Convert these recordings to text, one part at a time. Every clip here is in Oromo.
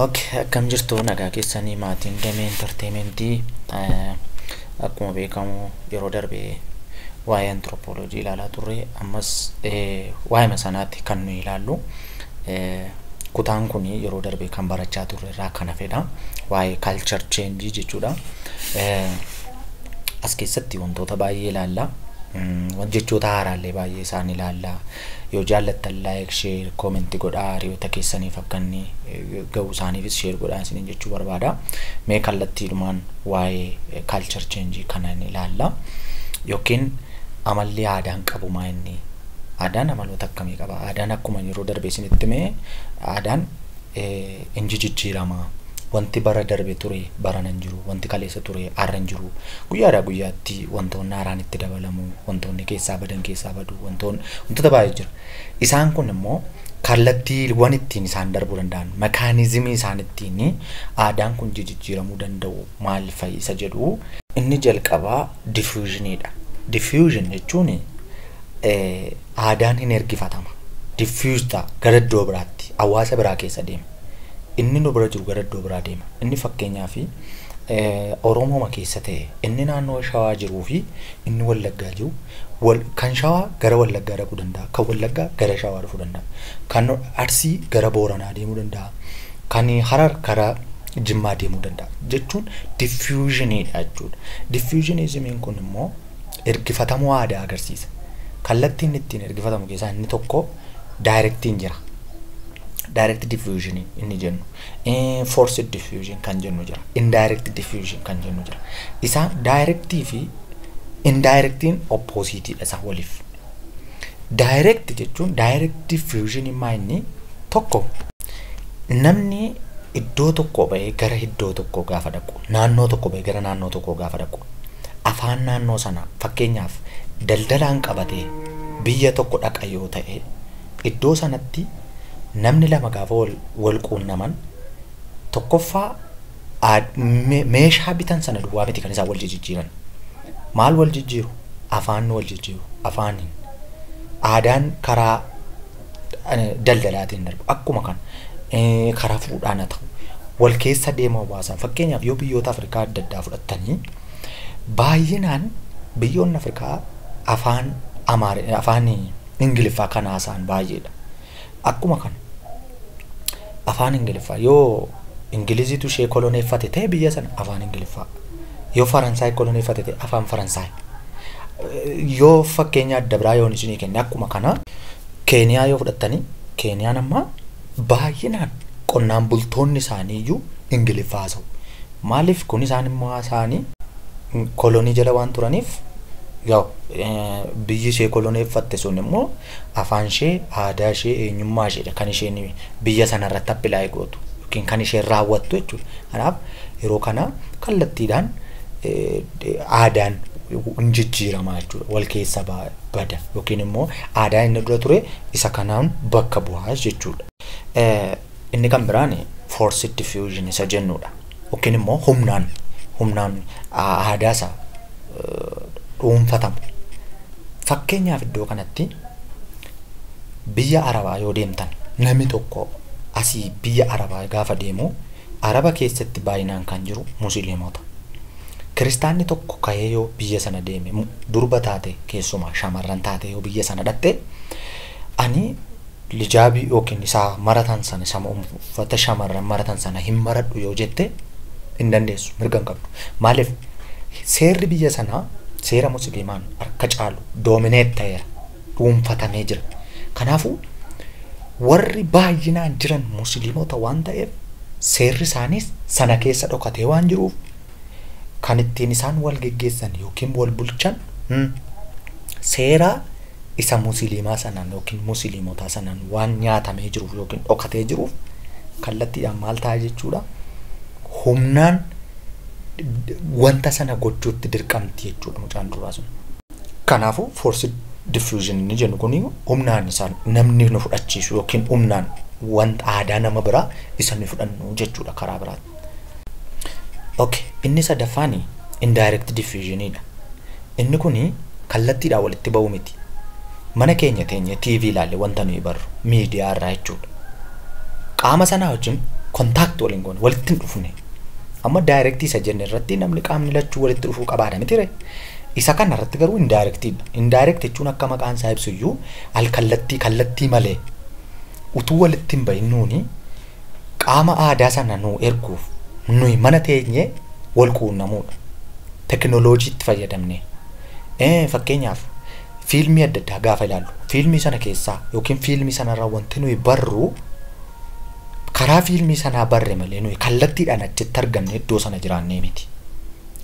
Okay, akkam jirtu nagaa keessanii maatiin damee intarteementii akkuma beekamu yeroo darbe waa'ee antiroopooloojii ilaalaa turre ammas waa'ima sanaatti kan nuyi ilaallu kutaan kun yeroo darbe kan barachaa turre irraa kan hafedha waa'ee kaalchar cheenjii jechuudha as keessatti wantoota baay'ee ilaalla jechoota haaraallee baay'ee isaan ilaalla Yoo jaallattan like share comment godhaa hiriyoota keessaniif akka inni ga'u isaaniifis share godhaa isiniin jechuu barbaada. Mee kallattiidhumaan waa'ee culture change kana hin ilaalla. Yookiin amalli aadaan qabu maa inni? Aadaan amaloota akkamii qaba? Aadaan akkuma yeroo darbe isinitti hime aadaan Inji jijjiirama. Wanti bara darbe ture barana hin jiru. Wanti kaleessa ture har'a hin jiru. Guyyaadhaa guyyaatti wantoonni haaraan itti dabalamu, wantoonni keessaa badan keessaa badu, wantoon wantoota baay'ee jira. Isaan kun immoo kallattiiwwan ittiin isaan darbuu danda'an, mekaanizimii isaan ittiin aadaan kun jijijjiiramuu danda'u maal fa'i isa jedhu. Inni jalqabaa diffusion dha. Diffusion jechuun Aadaan hin ergifatama. Diffuse ta'a. Gara iddoo biraatti. Hawaasa biraa keessa deema. Inni nu bira jiru gara iddoo biraa deema. Inni fakkeenyaaf Oromooma keessa ta'e inni naannoo Shawaa jiruu fi inni Wallaggaa jiru wal, kan Shawaa gara Wallaggaa dhaquu danda'a. Kan Wallaggaa gara Shawaa dhufuu danda'a. Kan Arsii gara Booranaa deemuu danda'a. Kan Harar gara Jimmaa deemuu danda'a. Jechuun diffusionidha jechuudha. Diffusionismiin kun immoo ergifatamuu aadaa agarsiisa. Kallattiin ittiin ergifatamu keessaa inni tokko daayirektiin jira. Direct diffusion inni jennu. Forced diffusion kan jennu jira. Indirect diffusion kan jennu jira. Isaan daayirektii fi indaayirektiin oppoosiitiidha isaan waliif. Direct jechuun direct diffusion immaa inni tokko namni iddoo tokkoo bahee gara iddoo tokkoo gaafa dhaqu naannoo tokko bahee gara naannoo tokkoo gaafa dhaqu afaan naannoo sanaa fakkeenyaaf daldalaan qabatee biyya tokko dhaqa yoo ta'e iddoo sanatti namni lama gaafa wal, wal quunnaman tokkoffaa Aad- me- meeshaa bitan sana duwwaa miti kan isaan wal jijjiiran maal wal jijjiiru afaan wal jijjiiru afaaniin aadaan karaa eh, daldalaatiin darbu akkuma kan eh, karaa fuudhaan haa ta'u wal keessa deema hawaasaan fakkeenyaaf yoo biyyoota afrikaa adda addaa fudhattanii baay'inaan biyyoonni afrikaa afaan amaari afaan ingiliffaa kan haasa'an baay'eedha akkuma kana afaan ingiliffaa yoo ingiliziitu ishee koloneeffate ta'e biyya sana afaan ingiliffaa yoo faransaay koloneeffate ta'e afaan faransaay yoo fakkeenya adda biraa yoon isinii kenne akkuma kana keeniyaa yoo fudhattanii keeniyaan amma baay'inaan qonnaan bultoonni isaanii iyyuu ingiliffaa haasa'u maaliif kun isaan immoo haasa'anii kolonii jala waan turaniif yaa'u biyyi ishee koloneeffatte sun immoo afaanshee, aadaashee, eenyummaasheedha kan isheen biyya sanarratti appilaayi gootu yookiin kan isheen raawwattu jechuudha. Kanaaf yeroo kana kallattiidhaan aadaan hin jijjiirama jechuudha. Wal keessa bada yookiin immoo aadaa inni dura ture isa kanaan bakka bu'aa jechuudha. Inni kan biraan forced diffusion isa jennuudha. yookiin immoo humnaan humnaan aadaa isaa dhuunfatamu. Fakkeenyaaf iddoo kanatti biyya Arabaa yoo deemtan namni tokko asii biyya Arabaa gaafa deemu Araba keessatti baay'inaan kan jiru musliimota. Kiristaanni tokko ka'ee yoo biyya sana deeme durba taate keessumaa shamarran taate yoo biyya sana dhaqxe ani Lijaabii ykn isaa maratan sana isa uffata shamarran maratan sana hin maradhu yoo jette hin dandeessu mirga hin qabdu. Maaliif seerri biyya sanaa seera musliimaan harka caalu doomineet ta'eera dhuunfatamee jira. Kanaafuu warri baay'inaan jiran musliimota waan ta'eef seerri isaaniis sana keessa dhokatee waan jiruuf kan ittiin isaan wal geggeessan yookiin wal bulchan hmm, seera isa musiliimaa sanaan yookiin musiliimotaa sanaan waan nyaatamee jiruuf yookiin dhokatee jiruuf kallattiidhaan maal ta'a jechuudha humnaan d- wanta sana gochuutti dirqamti jechuudha mucaan durbaa sun. Kanaafuu force diffusion inni jennu kun humnaan isaan namni nu fudhachiisu yookiin humnaan wanta aadaa nama biraa isa nu fudhannu jechuudha karaa biraatti. Okay. Inni sadaffaan indirect diffusion dha. Inni kun kallattiidhaan walitti ba'uu miti. Mana keenya teenye TV ilaalle wanta nuyi barru miidiyaa irraa jechuudha. Qaama sanaa wajjin contact waliin goone walitti hin dhufne. Amma direct isa jenne irratti namni qaamni lachuu walitti dhufuu qabaadha miti ree? Isa kana irratti garuu indirect dha. Indirect jechuun akka maqaan isaa ibsu iyyuu al kallattii kallattii malee utuu walitti hin ba'in nuuni Qaama aadaa sana nuu erguuf nuyi mana teenyee wal quunnamuudha. Tekinooloojiitti fayyadamnee. Ee, Fakkeenyaaf fiilmii adda addaa gaafa ilaallu fiilmii sana keessaa yookiin fiilmii sanarraa wanti nuyi barru karaa fiilmii sanaa barre malee nuyi kallattiidhaan achitti argamnee iddoo sana jiraannee miti.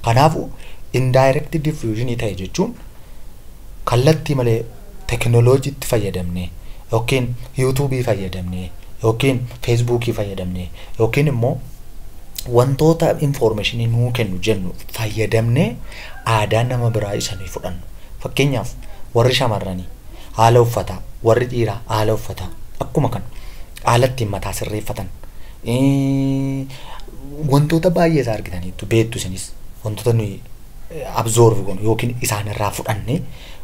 Kanaafuu indirect diffusion ta'e jechuun kallattii malee tekinoloojiitti fayyadamnee yookiin yuutuubii fayyadamnee yookiin feesbuukii fayyadamnee yookiin immoo wantoota infoormeeshinii nuu kennu jennu fayyadamnee aadaa nama biraa isa nuyi fudhannu. Fakkeenyaaf warri shamarranii haala uffataa, warri dhiiraa haala uffataa akkuma kana haala ittiin mataa sirreeffatan wantoota baay'ee isaa argitaniittu beektu isinis wantoota nuyi absorb goonu yookiin isaanirraa fudhanne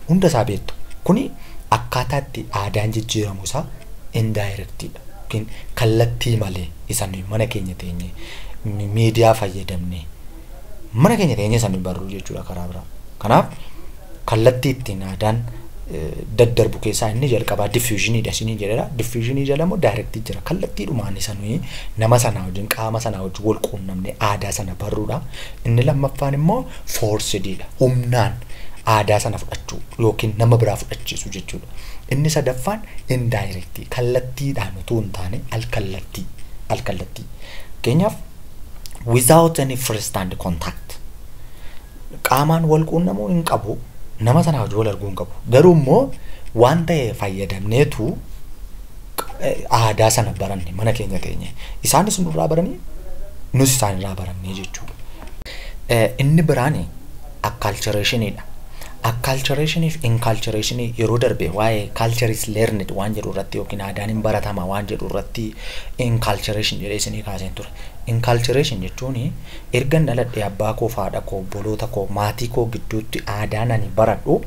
hunda isaa beektu. Kuni akkaataa itti aadaan jijjiiramu isaa indirectidha. Yookiin kallattii malee isa nuyi mana keenya teenye miidiyaa fayyadamne mana keenya teenye isa nuyi barru jechuudha karaa biraa. Kanaaf kallattii ittiin aadaan daddarbu keessaa inni jalqabaa diffuushiniidha isiniin jedhera. Diffuushinii jala immoo daayirektii jira. Kallattiidhumaan isa nuyi nama sanaa wajjin qaama sanaa wajjin wal quunnamne aadaa sana barruudha. Inni lammaffaan immoo foorsidiidha. Humnaan aadaa sana fudhachuu yookiin nama biraa fudhachiisuu jechuudha. Inni sadaffaan indaayirektii kallattiidhaan utuu hin taane alkallattii alkallattii. Fakkeenyaaf without any first hand contact qaamaan wal quunnamuu hin qabu nama sanaa hojii wal arguu hin qabu garuu immoo waan ta'e fayyadamneetu aadaa sana baranne mana keenya teenye. Isaanis nurraa baranii nus isaanirraa barannee jechuudha. Inni biraan akkaalchareeshiniidha. Akkaalchareeshinii fi inkaalchareeshinii yeroo darbe waa'ee kaalchariis leernid waan jedhu irratti yookiin aadaan hin baratama waan jedhu irratti inkaalchareeshin jedhee isinii kaaseen ture. Inkaalchareeshin jechuun ergan dhaladhee abbaa koo fi haadha koo obboloota koo maatii koo gidduutti aadaan ani baradhu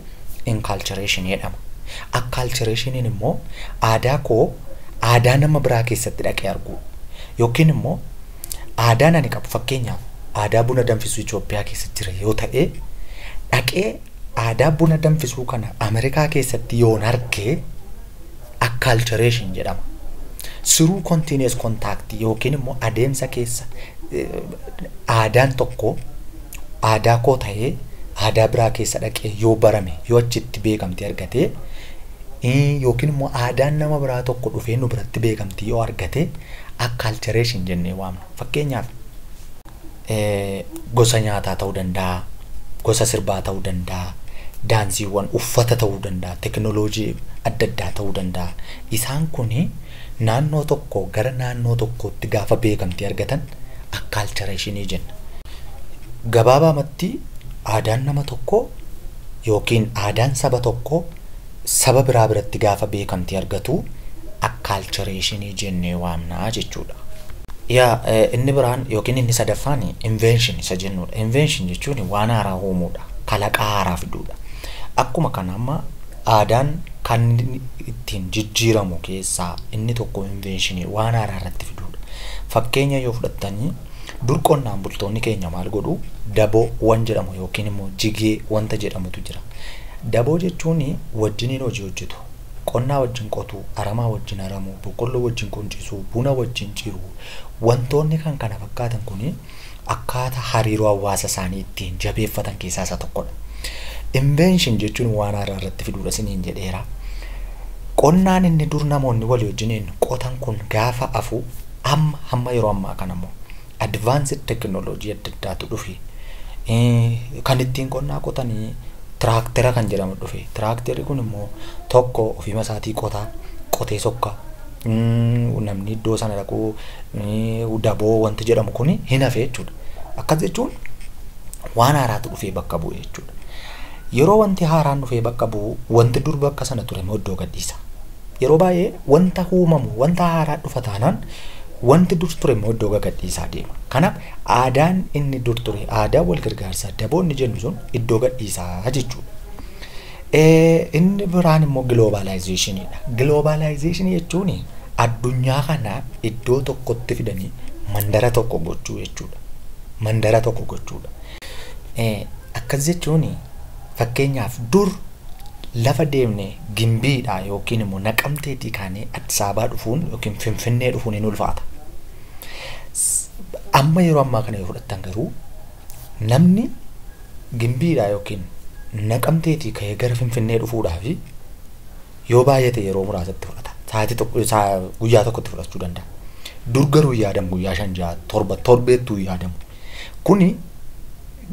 Inculturation jedhama. Acculturation'n immoo aadaa koo aadaa nama biraa keessatti dhaqee arguudha. Yookiin immoo aadaan ani qabu fakkeenyaaf aadaa buna danfisuu Itoophiyaa keessa jira yoo ta'e dhaqee aadaa buna danfisuu kana Ameerikaa keessatti yoon arge acculturation jedhama. Siruu continuous contact yookiin immoo adeemsa keessa eh, aadaan tokko aadaa koo ta'ee aadaa biraa keessa dhaqee yoo barame yoo achitti beekamtii argate yookiin immoo aadaan nama biraa tokko dhufee nu biratti beekamtii yoo argate akkaalchareeshin jennee waamna. Fakkeenyaaf gosa nyaataa ta'uu danda'a, gosa sirbaa ta'uu danda'a, daansiiwwan uffata ta'uu danda'a, tekinooloojii adda addaa ta'uu danda'a. Isaan kuni Naannoo tokkoo gara naannoo tokkootti gaafa beekamtii argatan akkaalchareeshinii jenna. Gabaabaamatti aadaan nama tokkoo yookiin aadaan saba tokkoo saba biraa biratti gaafa beekamtii argatu akkaalchareeshinii jennee waamna jechuudha. Yaa inni biraan yookiin inni sadaffaan invention isa jennuudha. Invention jechuun waan haaraa uumuudha. Kalaqaa haaraa fiduudha. Akkuma kana amma Aadaan kan inni ittiin jijjiiramu keessaa inni tokko inveenshinii waan haaraa irratti fiduudha. Fakkeenya yoo fudhattanii dur qonnaan bultoonni keenya maal godhu daboo wan jedhamu yookiin immoo jigee wanta jedhamutu jira. Daboo jechuun wajjiniin hojii hojjetu. Qonnaa wajjin qotuu, aramaa wajjin aramuu, boqqolloo wajjin quncisuu, buna wajjin ciruu wantoonni kan kana fakkaatan kun akkaataa hariiroo hawaasa isaanii ittiin jabeeffatan keessaa isa tokkodha. Invention jechuun waan haaraa irratti fiduudha isiniin jedheera. Qonnaan inni dur namoonni walii wajjiniin qotan kun gaafa hafu amma hamma yeroo ammaa kana immoo advanced technology adda addaatu dhufe. Kan ittiin qonnaa qotanii tiraaktera kan jedhamu dhufe. Tiraakterri kun immoo tokko ofiima isaatii qotaa, qotee sokka, namni iddoo sana dhaqu daboo wanti jedhamu kun hin hafe jechuudha. Akkas jechuun waan haaraatu dhufee bakka bu'e jechuudha. Yeroo wanti haaraan dhufee bakka bu'u wanti dur bakka sana ture immoo iddoo gadhiisa. Yeroo baay'ee wanta uumamu wanta haaraa dhufa taanaan wanti dur ture immoo iddoo gadhiisaa deema. Kanaaf aadaan inni dur ture aadaa wal gargaarsaa daboo inni jennu sun iddoo gadhiisaa jechuudha. Inni biraan immoo giloobaalaayizeeshiniidha. Giloobaalaayizeeshinii jechuun addunyaa kana iddoo tokkotti fidanii mandara tokko gochuu jechuudha. Mandara tokko gochuudha. Akkas jechuun fakkeenyaaf dur lafa deemnee gimbiidhaa yookiin immoo naqamteetii kaanee Addis Ababaa dhufuun yookiin Finfinnee dhufuun hin ulfaata. Amma yeroo ammaa kana yoo fudhattan garuu Namni Gimbiidhaa yookiin Naqamteetii ka'ee gara Finfinnee dhufuudhaaf yoo baay'ate yeroo muraasa itti fudhata. Sa'aatii tokko saa guyyaa tokko itti fudhachuu danda'a. Dur garuu hin yaadamu guyyaa shan ja'a torba torbeettuu hin yaadamu. Kuni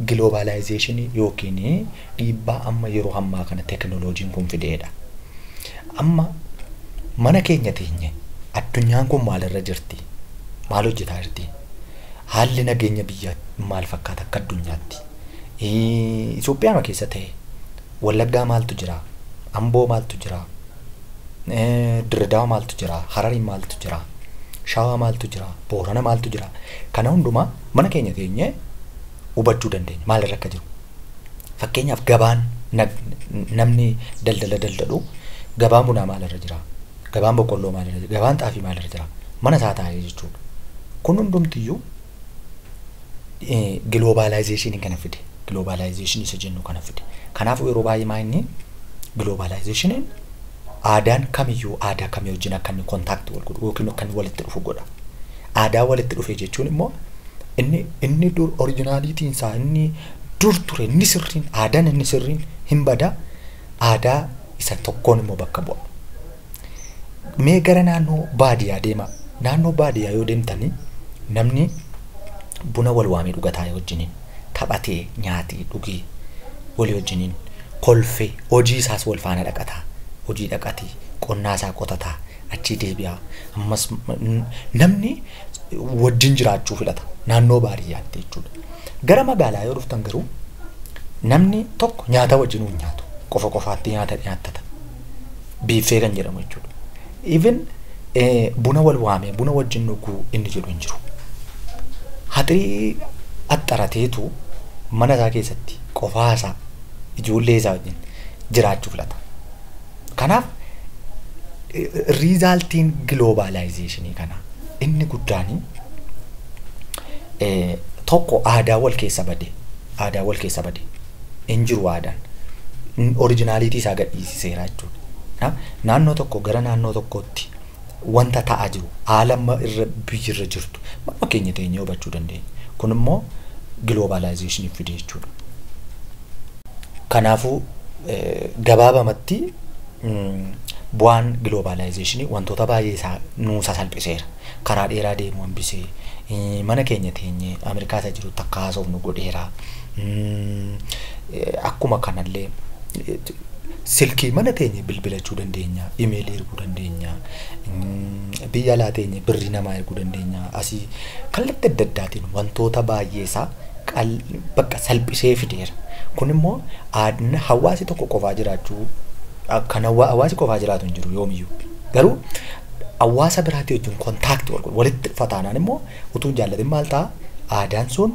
giloobaalaayizeeshinii yookiin dhiibbaa amma yeroo ammaa kana tekinooloojiin kun fideedha. Amma mana keenya teenye addunyaan kun maalirra jirti? Maal hojjetaa jirti? Haalli nageenya biyyaa maal fakkaata akka addunyaatti? Itoophiyaama keessa ta'ee Wallaggaa maaltu jira? Amboo maaltu jira? Dirredawa maaltu jira? Harari maaltu jira? Shawaa maaltu jira? Boorana maaltu jira? Kana hundumaa mana keenya teenyee hubachuu dandeenya. Maalirra akka jiru. Fakkeenyaaf gabaan namni daldala daldalu gabaan bunaa maalirra jira? Gabaan boqqolloo maalirra jira? Gabaan xaafii maalirra jira? Mana isaa taa'ee jechuudha. Kun hundumtiyyuu giloobaalaayizeeshiniin kana fide. Giloobaalaayizeeshinii isa jennu kana fide. Kanaafuu yeroo baay'ee maa inni giloobaalaayizeeshiniin aadaan kamiyyuu aadaa kamii wajjin akka inni kontaaktii wal godhu yookiin akka inni walitti dhufu godha. Aadaa walitti dhufe jechuun immoo inni inni dur orijinaaliitiin isaa inni dur ture inni sirriin aadaan inni sirriin hin bada. aadaa isa tokkoon immoo bakka bu'a. Mee gara naannoo baadiyyaa deemaa. Naannoo baadiyyaa yoo deemtanii namni buna wal waamee dhugataa yoo wajjiniin taphatee nyaatee dhugee walii wajjiniin kolfee hojii isaas wal faana dhaqataa hojii dhaqatii qonnaa isaa qotataa achii deebi'aa ammas namni wajjin jiraachuu filata naannoo baadiyyaatti jechuudha. Gara magaalaa yoo dhuftan garuu namni tokko nyaata wajjin hin nyaatu qofa qofaatti nyaata nyaattata biiffee kan jedhamu jechuudha. Even buna wal waamee buna wajjin dhuguu inni jedhu hin jiru. Haxirii axxarateetu mana isaa keessatti qofaa isaa ijoollee isaa wajjin jiraachuu filata. Kanaaf riizaaltiin giloobaalaayizeeshinii kana inni guddaan tokko aadaa wal keessa bade aadaa wal keessa bade hin jiru aadaan orijinaaliitii isaa gadhiisiseera jechuudha. Naannoo tokko gara naannoo tokkootti wanta ta'aa jiru haala amma irra biyyi irra jirtu manuma keenya teenyee hubachuu dandeenya. Kun immoo giloobaalaayizeeshinii fide jechuudha. Kanaafuu eh, gabaabamatti mm, bu'aan giloobaalaayizeeshinii wantoota baay'ee isaa nuu sasalphiseera. Karaa dheeraa deemuu hambisee eh, mana keenya teenyee Ameerikaa isa jirutti akka haasofnu godheera. Mm, eh, Akkuma kanallee eh, Silkii mana teenye bilbilachuu dandeenya, imeelii erguu dandeenya, biyya alaa teenye birrii namaa erguu dandeenya. Asii kallatti adda addaatiin wantoota baay'ee isaa bakka salphisee fideera. Kun immoo hawaasi tokko qofaa jiraachuu kan hawaasi qofaa jiraatu hin jiru yoomiyyuu. Garuu hawaasa biraatii wajjin kontaaktii wal walitti dhufa taanaan immoo utuu hin jaallatin maal ta'a aadaan sun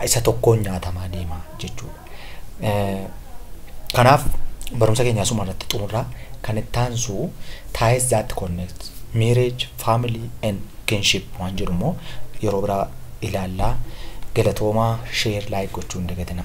isa tokkoon nyaatamaa deema jechuudha. Kanaaf barumsa keenya asuma irratti xumurraa kan itti aansu ties that connect marriage, family and kinship waan jedhu immoo yeroo biraa ilaallaa. Galatoomaa share like gochuu hin dagatinaa.